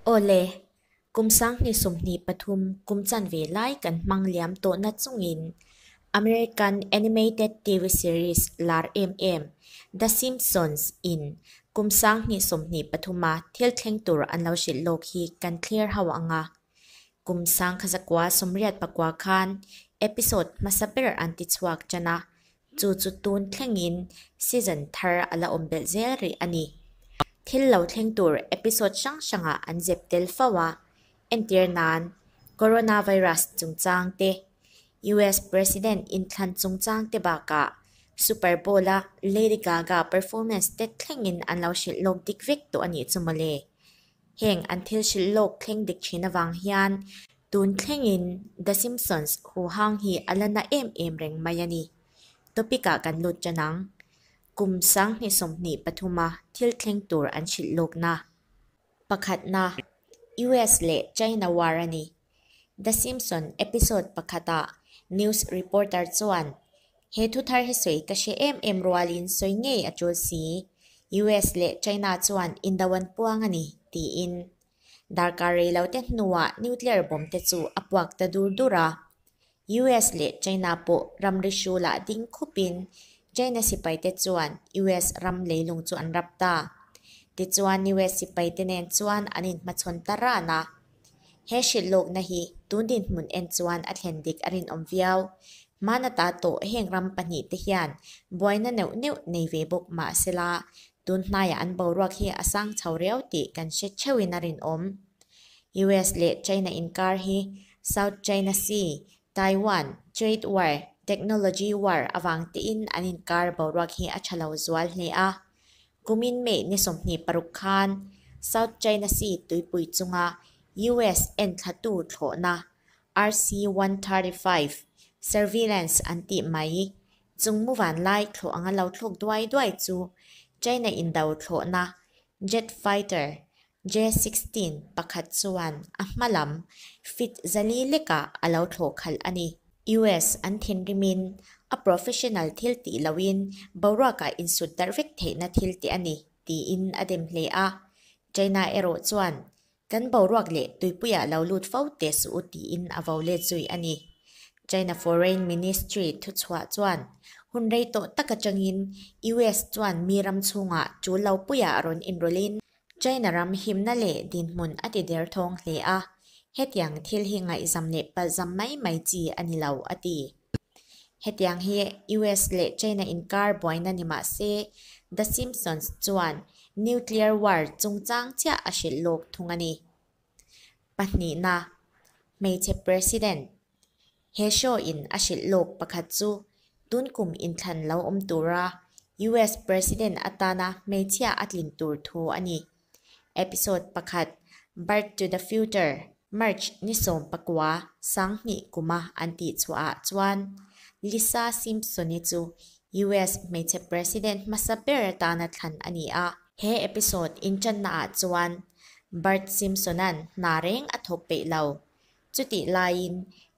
Aw le, kum sanghnih sawmhnih pathum kum chan ve lai kan hmang liam tawh na chungin American animated TV series lar em em The Simpsons in kum sanghnih sawmhnih pathuma thil thleng tur an lo hrilh lawk hi kan thler hauh ang a. Kum sangkha zakua sawmriat pakua khan episode hmasa ber an ti chhuak tan a, Chu chu tun thlengin season thar a la awm belh zel rih a ni. Thil lo thleng tur episode hrang hranga an zep tel fo a, entir nan Coronavirus chungchang te, US President inthlan chungchang te bakah Super Bowl a Lady Gaga performance te thlengin an lo hrilh lawk dik vek tawh a nih chu mawle. Heng an thil hrilh lawk thleng dek thin avang hian tun thlengin The Simpsons huhang hi a la na em em reng mai a ni. Topic ah kan lut tan ang. Kum sanghnih sawmhnih pathuma thil thleng tur an hrilh lawkna pakhatna US leh China war a ni. The Simpson episode pakhata news reporter chuan, He thuthar hi sawi ka hre em em rualin sawi ngei a tul si. US leh China chuan Indo an puang a ni, tiin. Darkar rei lo te hnuah nuclear bomb te chu a puak ta dur dur a. US leh China pawh ramri hru lah ding khupin China sipaite chuan US ram leilung chu an rap ta. Tichuan US sipaite nen chuan an inhmachhawn ta ran a. He hrilh lawkna hi tun dinhmun en chuan a thlen dik a rinawm viau. Hman ata tawh heng ram pahnih te hian buaina neuh neuh nei ve bawk mahsela tun hnaia an boruak hi a sang chho riau tih kan hre theuhin a rinawm. US leh China inkar hi South China Sea, Taiwan, Trade War, Technology War avang tiin an inkar boruak hi a tha lo zual hle a. Kumin May ni sawmhnih paruk khan South China Sea tuipui chunga US enthlatu thlawhna, RC one thirty five, surveillance an tih mai i, chungmu vanlai thlawh anga lo thlawk duai duai chu China-in do thlawhna jet fighter J-16 pakhat chuan a hma lam fit zali lekah a lo thlawh khalh a ni. US an thinrimin a professional thil tih lohin boruakah insut darh vek theihna thil te a ni, tiin a dem hle a. China erawh chuan, Kan boruak leh tuipuiah lo lut fo teh suh u tiin a vo let zui a ni. China Foreign Ministry thuchhuah chuan, Hun rei tawh tak atangin US chuan mi ram chhungah chul lo puiah a rawn inrawlhin, China ram himna leh dinhmun a ti der thawng hle a, hetiang thil hi ngaihzam leh palhzam mai mai chi a ni lo, a ti. Hetiang hi US leh China inkar buaina ni mah se, The Simpsons chuan nuclear war chungchang chiah a hrilh lawk thung a ni. Pahnihna, Hmeichhe President He Shaw-in a hrilh lawk pakhat chu tun kum inthlan lo awm tura US President atana hmeichhia a tlin tur thu a ni. Episode pakhat, Bart to the Future, March ni sawm pakua sang hnih kuma an tih chhuahah chuan Lisa Simpson-i chu US Hmeichhe President hmasa ber atana thlan a ni a. He episode inṭanna ah chuan Bart Simpson-a'n hna reng a thawk peih lo. Chutih laiin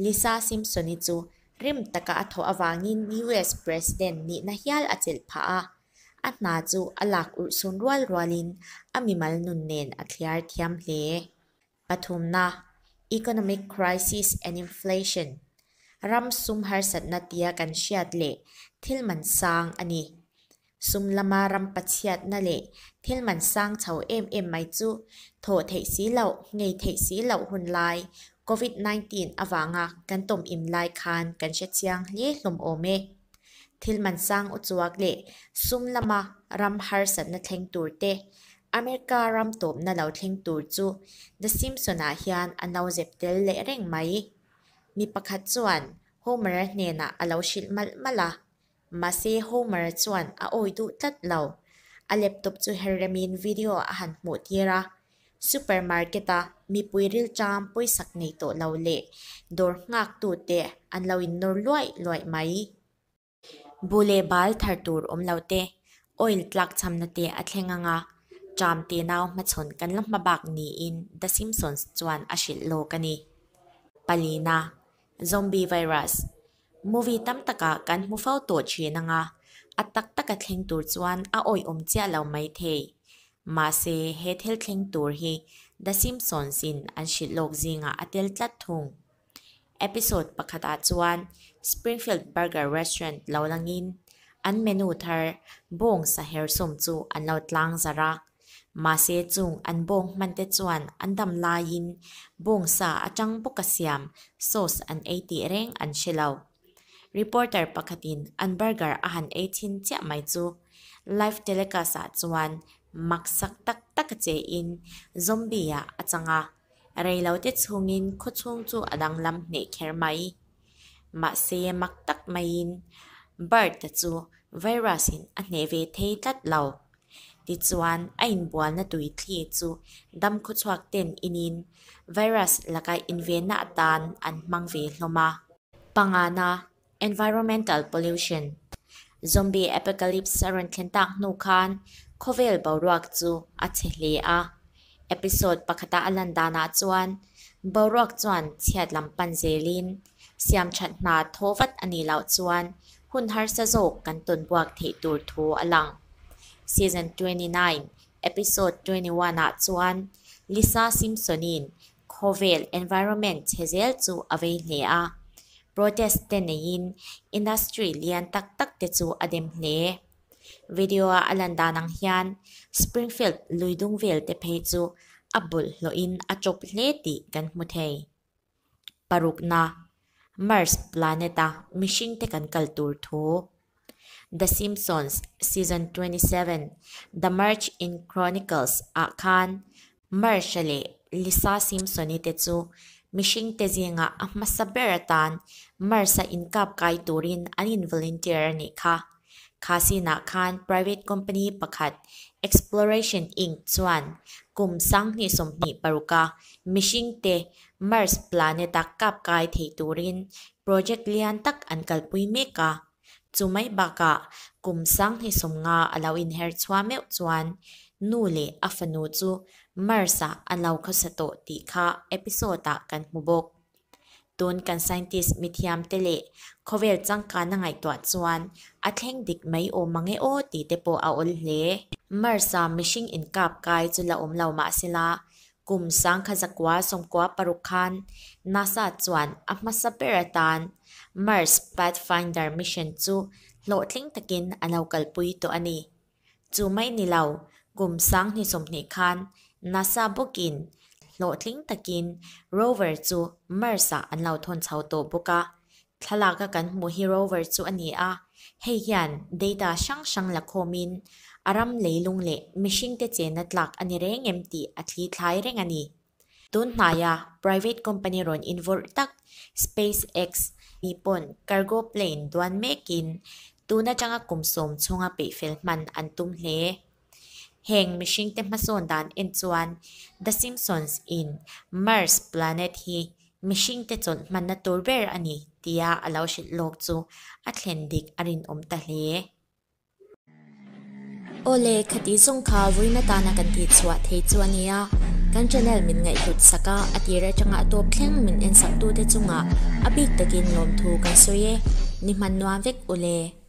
Lisa Simpson-i chu rim taka a thawh avangin US President nihna hial a chelh phah a, a hna chu a lak urhsun rual rualin a mimal nun nen a thliar thiam hle. Pathumna, Economic Crisis and Inflation, Ram sum harsatna tia kan hriat leh thil man sang a ni. Sum lama ram pachiatna leh thil man sang chho em em mai chu thawh theih si lo, ngei theih si lo hun lai Covid nineteen avanga kan tawm in lai khan kan hrechiang hle hlawm awm e. Thil man sang uchuak leh sum lama ram harsatna thleng tur te, America ram tawpna lo thleng tur chu The Simpson-ah hian a no zep tel leh reng mai. Mi pakhat chuan Homer hnenah a lo hrilh malh malh a, mahse Homer chuan a awi duh tlat lo. A laptop chu herh remin video a han hmuh tir a, Supermarket a mipui rilṭam pawisak nei tawh lo leh dawr nghâktute an lo innawr luai luai mai. Bu leh bal thar tur awm lote, oil tlâkchhamnate a thleng anga ṭâm teh nau hmachhawn kan la hma bâk niin The Simpsons chuan a hrilh lâwk a ni. Palina, Zombie Virus, Movie tam taka kan hmu fo tawh thin anga, a tak taka thleng tur chuan a awihawm chiah lo mai thei. Mahse, he thil thleng tur hi The Simpsons-in an hrilh lawk zingah a tel tlat thung. Episode pakhatah chuan Springfield Burger Restaurant lo langin an menu thar bawng saher sawm chu an lo tlang zarh a, Mahse chung an bawng hman te chuan an dam laiin bawng sa atang bawka siam sauce an ei tih reng an hre lo. Reporter pakhatin an burger a han ei thin chiah mai chu. Live telecast ah chuan mak sak tak tak a che in zombie a a chang a, rei lo te chungin khawchhung chu a danglam hneh kher mai. Mahse, mak tak maiin Bert-a chu virus-in a hneh ve thei tlat lo. Tichuan, a inbualna tui thli chu dam khuachhuak ten inin virus laka invenna atan an hmang ve hlawm a. Pangana, environmental pollution, zombie apocalypse a rawn thlen tak hnu khan khawvel boruak chu a chhe hle a. Episode pakhata a lan danah chuan boruak chuan chhiat lam pan zelin siam that hna thaw vat a nih loh chuan hun harsa zawk kan tawn buak theih tur thu a lang. Season twenty nine, Episode twenty one ah chuan Lisa Simpson-in khawvel, environment, che zel chu a vei hle a. Protest te neiin industry lian tak tak te chu a dem hle. Video a a lan dan ang hian Springfield lui dung vel te phei chu a bul hlawh in a chop hle tih kan hmu thei. Paruk na, Mars planet a mihring te kan kal tur thu. The Simpsons Season 27, The March in Chronicles ah khan Marsha leh Lisa Simpson-i te chu mihringte zingah a hmasa ber atan Marsha inkap kai turin an in volunteer a nih kha. Khasiinah khan private company pakhat Exploration Inc chuan kum sanghnih sawmhnih paruka mihringte Mars planet-a kap kai thei turin project lian tak an kalpui mek a. Chu mai bakah kum sang hnih sawm nga a lo inher chhuah meuh chuan nu leh a fanu chu Mars-a an lo khawsa tawh tih kha episode-ah kan hmu bawk. Tun kan scientist mithiam te leh khawvel changkana ngaihtuah chuan a thleng dik mai awm ange aw tih te pawh a awl hle. Mars-a mihring inkap kai chu la awm lo mahsela, Kum sangkha zakua sawmkua paruk khan NASA chuan a hmasa ber atan Mars Pathfinder Mission chu hlawhtling takin a lo kalpui tawh a ni. Chu mai ni lo, kum sang hnih sawmhnih khan NASA bawkin hlawhtling takin Rover chu Mars-ah an lo thawn chho tawh bawk a, Thlalaka kan hmuh hi rover chu a ni a, hei hian data hrang hrang la khawmin a ram leilung leh mihringte chenna tlak a ni reng em tih a thli thlai reng a ni. Tun hnaia private company rawn involh tak SpaceX hi pawn cargo plane duan mekin tun atanga kum sawm chhunga peih fel hman an tum hle. Heng mihringte hmasawn dan en chuan The Simpsons in Mars Planet hi mihringte chawn hmanna tur ber a ni tia a lo hrilh lawk chu a thlen dik a rinawm ta hle. Aw le, kha tih zawng kha vawiin atana kan tih chhuah thei chu a nia, kan channel min ngaihhlut sak a, a tir atanga tawp thleng min en sak tute chungah a bik takin lawmthu kan sawi e, ni hman nuam vek u le.